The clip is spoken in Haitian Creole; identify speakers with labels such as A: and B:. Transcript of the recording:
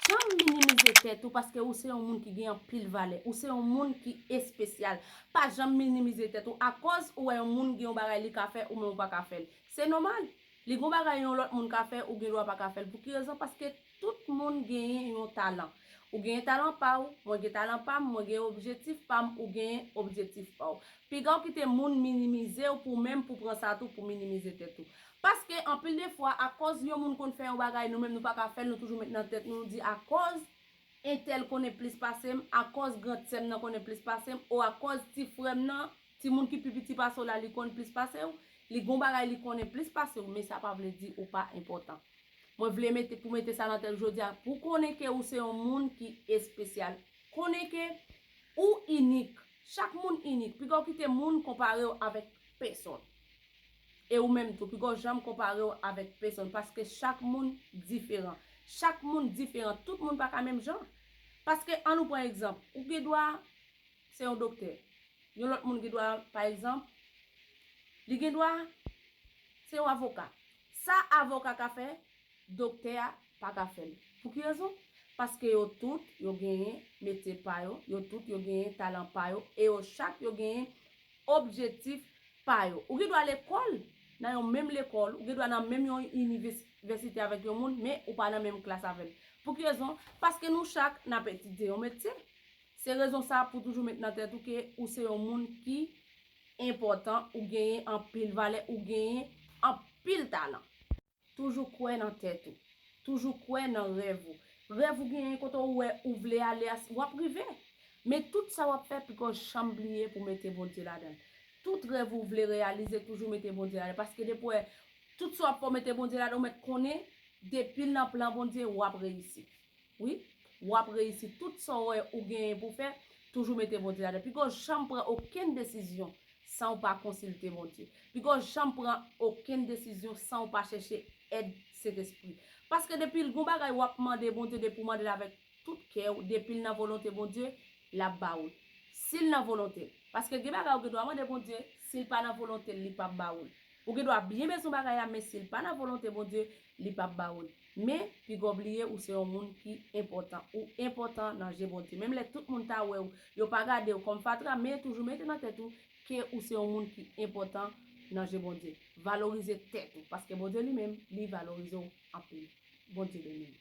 A: janm minimize tèt ou paske ou se yon moun ki gen anpil valè, ou se yon moun ki espesyal. Pa janm minimize tèt ou akòz ou wè yon moun gen yon bagay li ka fè ou menm ou pa ka fè l. Se nòmal, li gen yon bagay yon lòt moun ka fè ou gen dwa pa ka fè l. Pou ki rezon? Paske tout moun genyen yon talan. Ou genyen talan pa ou, mwen gen talan pa m, mwen gen objektif pa m, ou genyen objektif pa ou. Piga w kite moun minimize w pou menm pou pran sa tou pou minimize tèt ou. Paske anpil de fwa akòz yon moun konn fè yon bagay nou menm nou pa ka fèl nou toujou met nan tèt nou di akòz entèl konnen plis pasem akòz grand sèm nan konnen plis pasem o akòz ti frèm nan ti moun ki pi piti pasew la li konn plis pasew li gon bagay li konnen plis pasew men sa pa vle di ou pa enpòtan mwen vle mete pou mete sa nan tèt jodia pou konnen ke ou se yon moun ki espesyal konnen ke ou inik chak moun inik pigaw kite moun konparew avèk pèsòn. E ou menm tou, pi gwo janm konpare w avèk pesonn paske chak moun diferan. Chak moun diferan, tout moun pa ka menm jan. Paske an nou pran egzanp, ou gen dwa se yon doktè, yon lòt moun gen dwa pa egzanp li gen dwa se yon avoka. Sa avoka ka fè, doktè a pa ka fè l. Pou ki rezon? Paske yo tout yo genyen metye pa yo, yo tout yo genyen talan pa yo e yo chak yo genyen objektif pa yo. Ou gen dwa lekòl, nan yon menm lekòl, ou gen dwa nan menm yon inivèsite avèk yon moun, men ou pa nan menm klas avè l. Pou ki rezon? Paske nou chak n ap etidye yon metye. Se rezon sa pou toujou met nan tèt ou ke ou se yon moun ki enpòtan, ou genyen anpil valè, ou genyen anpil talan. Toujou kwè nan tèt ou. Toujou kwè nan rèv ou. Rèv ou genyen kote ou wè ou vle ale a wap rive. Men tout sa wap fè pko janm bliye pou mete Bondye ladan l. Tout rèv ou vle reyalize toujou mete Bondye ladan l paske depi wè tout sa wap fè ou mete Bondye ladan l ou mèt konnen depil nan plan Bondye wap reyisi. Wi Wap reyisi tout sa w wè ou genyen pou fè toujou mete Bondye ladan piko janm pran okenn desizyon san w pa konsilte Bondye piko janm pran okenn desizyon san w pa chèche èd sentespri paske depi l gon bagay wap mande Bondye depi w mande l avèk tout kè w depi l nan volonte Bondye lap ba ou l si l nan volonte l paske gen bagay ou gen dwa mande Bondye si l pa nan volonte l li pap ba ou l ou gen dwa byen bezwen bagay la men si l pa nan volonte Bondye Li pap ba ou l. Men, piga w bliye ou se yon moun ki enpòtan. Ou enpòtan nan je Bondye. Menm lè tout moun ta wè ou, yo pa gade ou kòm fatra, men toujou mete nan tèt ou ke ou se yon moun ki enpòtan nan je Bondye. Valorize tèt ou, paske Bondye li menm, li valorize w anpil. Bondye beni nou.